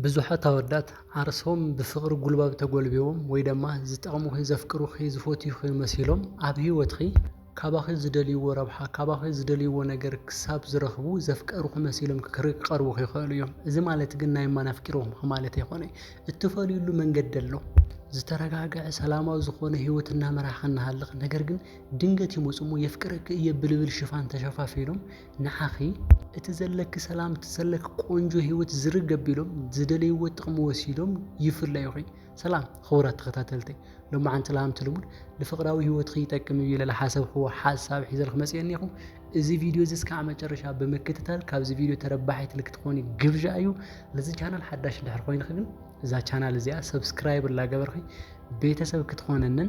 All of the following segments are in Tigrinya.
ብዙሓት ኣወዳት ዓርስም ብፍቕሪ ጉልባብ ተጎልቢዎም ወይ ደማ ዝጠቕሙኺ ዘፍቅሩኺ ዝፈትዩኺ መሲሎም ኣብ ሂወትኺ ካባኺ ዝደልይዎ ረብሓ ካባኺ ዝደልይዎ ነገር ክሳብ ዝረኽቡ ዘፍቀሩኺ መሲሎም ክቐርቡኺ ይኸእሉ እዮም እዚ ማለት ግን ናይ እማን ኣፍቂርኹምኺ ማለት ኣይኮነይ እትፈልዩሉ መንገዲ ኣሎ ዝተረጋገዐ ሰላማዊ ዝኾነ ሂወት እናመራሕኺ እናሃለኺ ነገር ግን ድንገት ይመጹ እሞ የፍቅረኪ እየ ብልብል ሽፋን ተሸፋፊኖም ንዓኺ እቲ ዘለኪ ሰላም እቲ ዘለኪ ቆንጆ ሂወት ዝርግ ኣቢሎም ዝደለይዎ ጥቕሚ ወሲዶም ይፍለዩኺ። ሰላም ኽቡራት ተኸታተልተይ ሎማዓንቲ ላምቲ ልሙድ ንፍቕራዊ ሂወትኺ ይጠቅም እዩ ኢለ ልሓሰብኽዎ ሓሳብ ሒዘልኪ መፅየ እኒኹ። እዚ ቪድዮ እዚ እስካዕ መጨረሻ ብምክትታል ካብዚ ቪድዮ ተረባሒት ልክትኾኒ ግብዣ እዩ። ልዚ ቻናል ሓዳሽ እንድሕር ኾይንኺ ግን እዛ ቻናል እዚኣ ሰብስክራይብ እላገበርኺ ቤተሰብ ክትኾነንን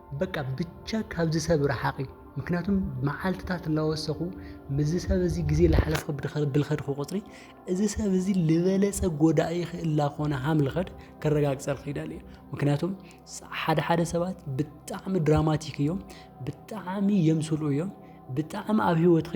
በቃ ብቻ ካብዚ ሰብ ረሓቂ ምክንያቱም መዓልትታት እናወሰኹ ምዚ ሰብ እዚ ግዜ ላሓለፍኹ ብልኸድኹ ቁፅሪ እዚ ሰብ እዚ ልበለፀ ጎዳኢ እላኾነ ሃም ልኸድ ከረጋግፀልክ ይደል እየ ምክንያቱም ሓደ ሓደ ሰባት ብጣዕሚ ድራማቲክ እዮም ብጣዕሚ የምስሉ እዮም ብጣዕሚ ኣብ ሂወትኺ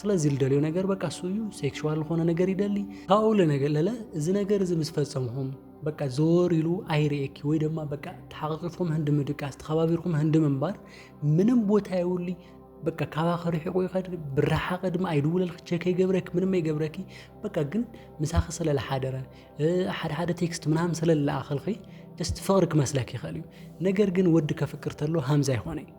ስለዚ ልደልዮ ነገር በቃ እሱ እዩ ሴክሽዋል ዝኾነ ነገር ይደሊ ካብኡ ለነገለለ እዚ ነገር እዚ ምስ ፈጸምኹም በቃ ዘወር ኢሉ ኣይርእኪ ወይ ድማ በቃ ተሓቕቂፍኩም ህንዲ ምድቃስ ተኸባቢርኩም ህንዲ ምንባር ምንም ቦታ የውሊ በቃ ካባኸ ርሒቑ ይኸድ ብረሓቐ ድማ ኣይድውለልኪ ቸክ ይገብረኪ ምንም ኣይገብረኪ በቃ ግን ምሳኺ ስለ ዝሓደረ ሓደ ሓደ ቴክስት ምናምን ስለ ዝለኣኸልኺ ጀስት ፍቕሪ ክመስለኪ ይኽእል እዩ ነገር ግን ወዲ ከፍቅር ተሎ ሃምዛ ይኾነ እዩ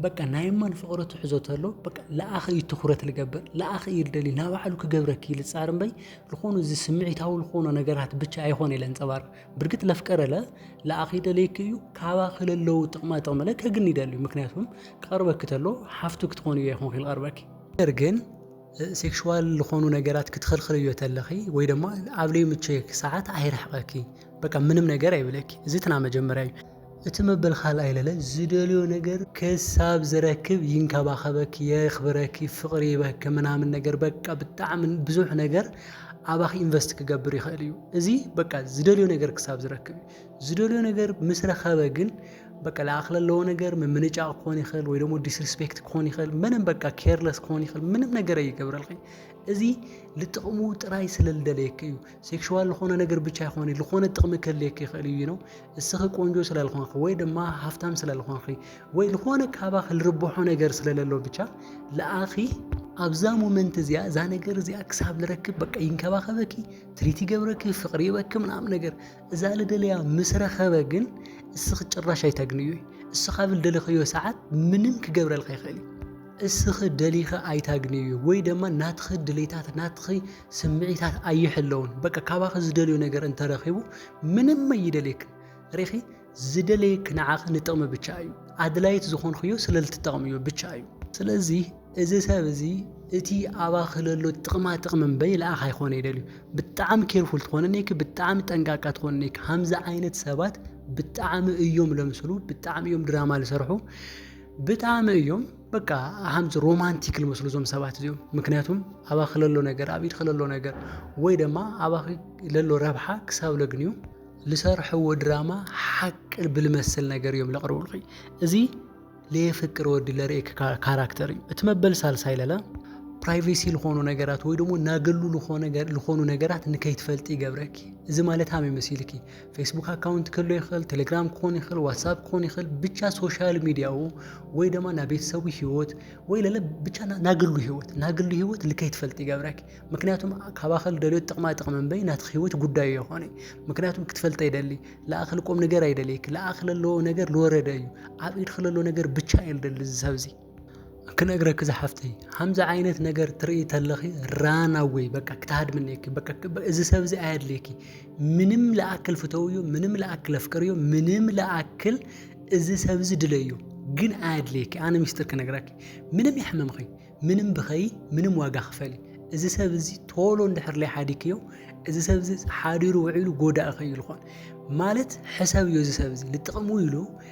በቃ ናይ እማን ፍቕሪ ትሕዞ ተሎ በቃ ለኣኸ እዩ ትኩረት ልገብር ለኣኸ እዩ ልደሊ ናብ ባዕሉ ክገብረኪ ልፃር እምበይ ዝኾኑ እዚ ስምዒታዊ ዝኾኑ ነገራት ብቻ ኣይኾነ ኢለ ንፀባር ብርግጥ ለፍቀረለ ለኣኸ ይደለይክ እዩ ካባ ክለለዉ ጥቕማ ጥቕሚ ለ ከግን ይደልዩ ምክንያቱም ክቐርበኪ ተሎ ሓፍቱ ክትኾኑ እዮ ይኹን ክልቐርበኪ ነገር ግን ሴክሽዋል ዝኾኑ ነገራት ክትኽልክልዮ ተለኺ ወይ ድማ ኣብ ለይምቸክ ሰዓት ኣይርሕቐኪ በቃ ምንም ነገር ኣይብለኪ እዚ ትና መጀመርያ እዩ እቲ መበል ካልኣይ ለለ ዝደልዮ ነገር ክሳብ ዝረክብ ይንከባኸበኪ የኽብረኪ ፍቕሪ ይበኪ ምናምን ነገር በቃ ብጣዕሚ ብዙሕ ነገር ኣባኺ ኢንቨስት ክገብር ይኽእል እዩ እዚ በቃ ዝደልዮ ነገር ክሳብ ዝረክብ እዩ ዝደልዮ ነገር ምስ ረኸበ ግን በቃ ለኣኽ ለለዎ ነገር ምምንጫቕ ክኾን ይኽእል ወይ ደግሞ ዲስሪስፔክት ክኾን ይኽእል ምንም በቃ ኬርለስ ክኾን ይኽእል ምንም ነገር ኣይገብረልኺ እዚ ልጥቕሙ ጥራይ ስለ ልደለየኪ እዩ ሴክሹዋል ዝኾነ ነገር ብቻ ይኾን ዝኾነ ጥቕሚ ከልየክ ይኽእል እዩ ነው እስኺ ቆንጆ ስላልኾንኺ ወይ ድማ ሃፍታም ስላልኾንኺ ወይ ዝኾነ ካባኺ ልርብሖ ነገር ስለለሎ ብቻ ለኣኺ ኣብዛ ሞመንት እዚኣ እዛ ነገር እዚኣ ክሳብ ልረክብ በቃ ይንከባኸበኪ ትሪት ይገብረኪ ፍቕሪ ይበኪ ምናምን ነገር እዛ ልደለያ ምስ ረኸበ ግን እስኺ ጭራሽ ኣይተግንዩ እስኻ ብል ደለኸዮ ሰዓት ምንም ክገብረልካ ይኽእል እዩ እስኺ ደሊኸ ኣይታግንዩ ወይ ድማ ናትኺ ድሌታት ናትኺ ስምዒታት ኣይሕለውን በቃ ካባኺ ዝደልዮ ነገር እንተረኺቡ ምንም ኣይደልየክን ሪኺ ዝደለየኪ ንዓኺ ንጥቕሚ ብቻ እዩ ኣድላይት ዝኾንክዮ ስለ ልትጠቕምዮ ብቻ እዩ ስለዚ እዚ ሰብ እዚ እቲ ኣባኺ ለሎ ጥቕማ ጥቕሚ እምበይ ልኣኽ ኣይኮነ ይደልዩ ብጣዕሚ ኬርፉል ትኾነ ኔኪ ብጣዕሚ ጠንቃቃ ትኾነ ኔኪ ሃምዚ ዓይነት ሰባት ብጣዕሚ እዮም ለምስሉ ብጣዕሚ እዮም ድራማ ልሰርሑ ብጣዕሚ እዮም በቃ ሃምዚ ሮማንቲክ ልመስሉ እዞም ሰባት እዚኦም ምክንያቱም ኣባኺ ለሎ ነገር ኣብ ኢድኺ ለሎ ነገር ወይ ድማ ኣባኺ ለሎ ረብሓ ክሳብ ለግንዩ ልሰርሐዎ ድራማ ሓቂ ብልመስል ነገር እዮም ለቕርቡልኺ እዚ ለየፍቅር ወዲ ለርእክ ካራክተር እዩ እቲ መበል ሳልሳይ ለለ ፕራይቬሲ ዝኾኑ ነገራት ወይ ደግሞ ናገሉ ዝኾኑ ነገራት ንከይትፈልጢ ይገብረኪ እዚ ማለት ሃመይ መሲልኪ ፌስቡክ ኣካውንት ክህሎ ይኽእል፣ ቴሌግራም ክኾን ይኽእል፣ ዋትሳፕ ክኾን ይኽእል፣ ብቻ ሶሻል ሚዲያኡ ወይ ድማ ናብ ቤተሰቡ ህይወት ወይ ለለ ብቻ ናግሉ ህይወት ናግሉ ህይወት ልከይ ትፈልጥ ይገብረክ ምክንያቱም ካባኸል ደልዮ ጥቕማ ጥቕሚ እምበይ ናትኽ ህይወት ጉዳዩ የኾነ ምክንያቱም ክትፈልጠ ይደሊ ለኣኸል ቆም ነገር ኣይደልየክ ለኣኸል ኣለዎ ነገር ልወረደ እዩ ኣብ ኢድኽ ለሎ ነገር ብቻ እዩ ልደሊ ዝሰብዚ ክነግረኪ ዝሓፍተይ ከምዚ ዓይነት ነገር ትርኢ ተለኺ ራን ኣወይ በቃ ክትሃድምኔኪ በቃ እዚ ሰብ እዚ ኣየድልየኪ ምንም ለኣክል ፍተውዩ ምንም ለኣክል ኣፍቅርዩ ምንም ለኣክል እዚ ሰብ እዚ ድለዩ ግን ኣየድልየኪ ኣነ ሚስጥር ክነግረኪ ምንም የሕመምኺ ምንም ብኸይ ምንም ዋጋ ክፈሊ እዚ ሰብ እዚ ቶሎ እንድሕር ለይ ሓዲክዮ እዚ ሰብ እዚ ሓዲሩ ውዒሉ ጎዳእኺ እዩ ዝኾን ማለት ሕሰብዮ እዚ ሰብ እዚ ንጥቕሙ ኢሉ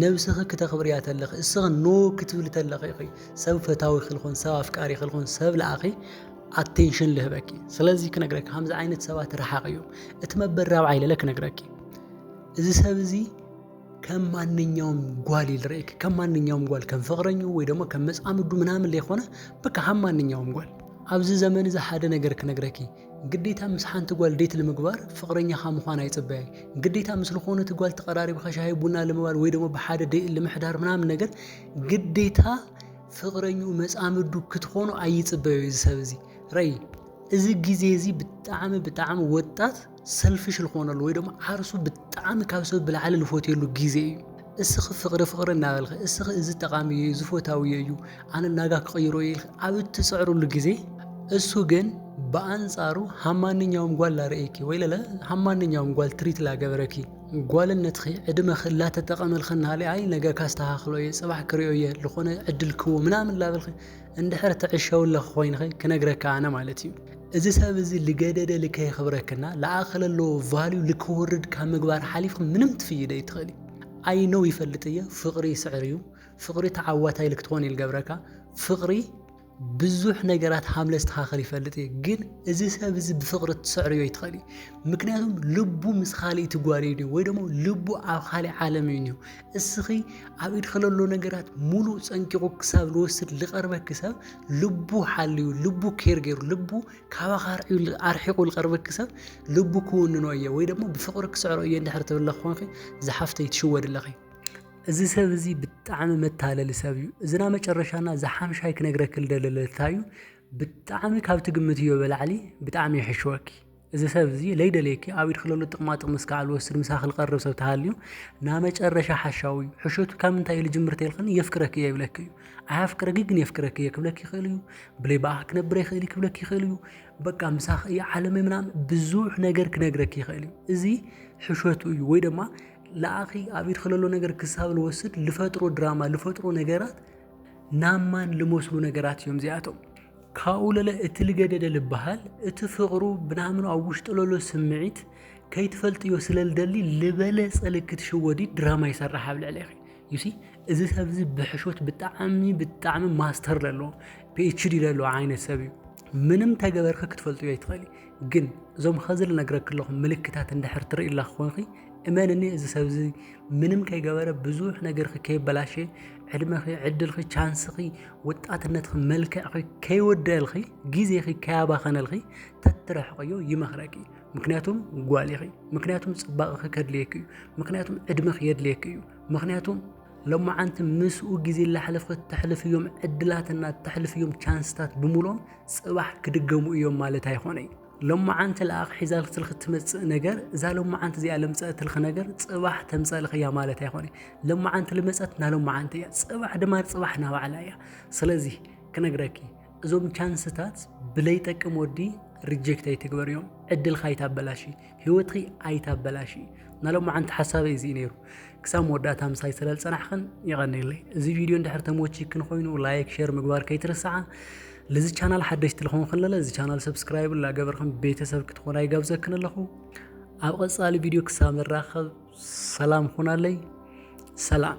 ነብስኺ ክተኽብርያ ተለኺ እስኺ ኖ ክትብሊ ተለኺ ኢኺ ሰብ ፈታዊ ክልኹን ሰብ ኣፍቃሪ ክልኹን ሰብ ለኣኺ ኣቴንሽን ልህበኪ ስለዚ ክነግረኪ ከምዚ ዓይነት ሰባት ረሓቕ እዩ እቲ መበል ራብዓይ ለለ ክነግረኪ እዚ ሰብ እዚ ከም ማንኛውም ጓል ይልርእኪ ከም ማንኛውም ጓል ከም ፍቕረኙ ወይ ደግሞ ከም መፃምዱ ምናምን ለይኮነ በቃ ከም ማንኛውም ጓል ኣብዚ ዘመን እዚ ሓደ ነገር ክነግረኪ እዩ ግዴታ ምስ ሓንቲ ጓል ዴት ንምግባር ፍቅረኛኻ ምዃን ኣይጽበያይ ግዴታ ምስ ልኾነት ጓል ተቀራሪብኻ ሻሂ ቡና ልምባል ወይ ደሞ ብሓደ ዴት ልምሕዳር ምናምን ነገር ግዴታ ፍቅረኙ መጻምዱ ክትኾኑ ኣይጽበዩ እዚ ሰብ እዚ ረይ እዚ ግዜ እዚ ብጣዕሚ ብጣዕሚ ወጣት ሰልፍሽ ልኾነሉ ወይ ደሞ ዓርሱ ብጣዕሚ ካብ ሰብ ብላዕሊ ልፎትየሉ ግዜ እዩ እስኺ ፍቕሪ ፍቕሪ እናበልኺ እስኺ እዚ ጠቓሚ እዩ እዚ ፎታዊ እዩ ኣነ ናጋ ክቕይሮ እዩ ኢልኪ ኣብ እትፅዕርሉ ግዜ እሱ ግን ብኣንጻሩ ሃብ ማንኛውም ጓል ላርእየኪ ወይ ለለ ሃብ ማንኛውም ጓል ትሪት ላገበረኪ ጓልነትኺ ዕድመኺ ላተጠቐመልኺ እናሃለ ኣይ ነገ ካስተኻኽሎ እየ ፅባሕ ክሪኦ እየ ዝኾነ ዕድል ክዎ ምናምን ላበልኺ እንድሕር ትዕሸውለኺ ኮይንኺ ክነግረካ ኣነ ማለት እዩ እዚ ሰብ እዚ ልገደደ ልከይክብረክና ልኣኸ ለለዎ ቫልዩ ልክወርድ ካብ ምግባር ሓሊፍክ ምንም ትፍይደ ኣይትኽእል ኣይ ኖው ይፈልጥ እየ ፍቕሪ ይስዕር እዩ ፍቕሪ ተዓዋታይ ልክትኾን ይልገብረካ ፍቕሪ ብዙሕ ነገራት ሃምለ ስተኻኸል ይፈልጥ እየ ግን እዚ ሰብ እዚ ብፍቕሪ ትስዕርዮ ይትኸእል እዩ ምክንያቱም ልቡ ምስ ካልእ ትጓል እዩ ወይ ደሞ ልቡ ኣብ ካልእ ዓለም እዩ ኒሁ እስኺ ኣብ ኢድ ከለሎ ነገራት ሙሉእ ፀንቂቑ ክሳብ ልወስድ ልቐርበኪ ሰብ ልቡ ሓልዩ ልቡ ኬር ገይሩ ልቡ ካባኻ ኣርሒቑ ዝቐርበኪ ሰብ ልቡ ክውንኖ እየ ወይ ደግሞ ብፍቕሪ ክስዕሮ እየ እንድሕር ትብለ ክኾንኺ ዝሓፍተይ ትሽወድ ኣለኺ እዚ ሰብ እዚ ብጣዕሚ መታለሊ ሰብ እዩ እዝና መጨረሻና ዝሓምሻይ ክነግረክል ደለለታዩ ብጣዕሚ ካብቲ ግምት እዮ በላዕሊ ብጣዕሚ ይሕሸወኪ እዚ ሰብ እዚ ለይደልየኪ ኣብ ኢድኪ ለሎ ጥቅማ ጥቅሚ እስካዕ ልወስድ ምሳኪ ልቀርብ ሰብ ተሃልዩ ናመጨረሻ ሓሻዊ እዩ ሕሸቱ ካብ ምንታይ እዩ ልጅምር ተልክኒ የፍቅረኪ እየ ይብለኪ እዩ ኣያፍቅረኪ ግን የፍቅረኪ እየ ክብለኪ ይክእል እዩ ብለይ ብኣኪ ክነብር ኣይክእል ክብለኪ ይክእል እዩ በቃ ምሳኪ እዩ ዓለመይ ምናምን ብዙሕ ነገር ክነግረኪ ይክእል እዩ እዚ ሕሸቱ እዩ ወይ ድማ ንኣኺ ኣብ ኢድኪ ለሎ ነገር ክሳብ ልወስድ ልፈጥሮ ድራማ ልፈጥሮ ነገራት ናብ ማን ልመስሉ ነገራት እዮም እዚኣቶም ካብኡ ለለ እቲ ልገደደ ልበሃል እቲ ፍቕሩ ብናምኑ ኣብ ውሽጡ ለሎ ስምዒት ከይትፈልጥዮ ስለ ልደሊ ልበለጸ ልክትሽወዲ ድራማ ይሰርሕ ኣብ ልዕሌኺ ዩሲ እዚ ሰብ እዚ ብሕሾት ብጣዕሚ ብጣዕሚ ማስተር ለሎ ፒኤችዲ ለሎ ዓይነት ሰብ እዩ ምንም ተገበርኪ ክትፈልጥዮ ኣይትኽእሊ ግን እዞም ኸዚ ልነግረኪ ኣለኹ ምልክታት እንድሕር ትርኢ ኣላ ክኾንኺ እመንኒ እዚ ሰብ እዚ ምንም ከይገበረ ብዙሕ ነገርኺ ከይበላሸ ዕድመኺ ዕድልኺ ቻንስኺ ወጣትነትኺ መልክዕኺ ከይወደልኺ ግዜኺ ከያባኸነልኺ ተትረሕቕዮ ይመኽረኪ ምክንያቱም ጓል ኢኺ ምክንያቱም ፅባቕኺ ከድልየኪ እዩ ምክንያቱም ዕድመኺ የድልየኪ እዩ ምክንያቱም ሎማዓንቲ ምስኡ ግዜ ላሕለፍኺ ተሕልፍዮም ዕድላትና ተሕልፍዮም ቻንስታት ብምሎም ፅባሕ ክድገሙ እዮም ማለት ኣይኾነይ ሎማዓንቲ ለኣኽ ሒዛልክልኺ ትመጽእ ነገር እዛ ሎማዓንቲ እዚኣ ልምጸእትልኺ ነገር ጽባሕ ተምጸእልኺ እያ ማለት ኣይኮነ ሎማዓንቲ ልመጸት ናሎማዓንቲ እያ ጽባሕ ድማ ጽባሕ ናባዕላ እያ ስለዚ ክነግረኪ እዞም ቻንስታት ብለይጠቅም ወዲ ሪጀክት ኣይትግበርዮም ዕድልካ ኣይታበላሽ ህይወትኺ ኣይታበላሽ ናሎም መዓንቲ ሓሳበይ እዚ ነይሩ ክሳብ መወዳእታ ምሳይ ስለ ዝፀናሕኽን ይቐኒለይ እዚ ቪድዮ እንድሕር ተመቺ ክንኮይኑ ላይክ ሼር ምግባር ከይትርስዓ ልዚ ቻናል ሓደሽቲ ልኾንክን ለለ እዚ ቻናል ሰብስክራይብ ላገበርክን ቤተሰብ ክትኾና ይጋብዘክን ኣለኹ ኣብ ቐጻሊ ቪድዮ ክሳብ ንራኸብ ሰላም ኹናለይ ሰላም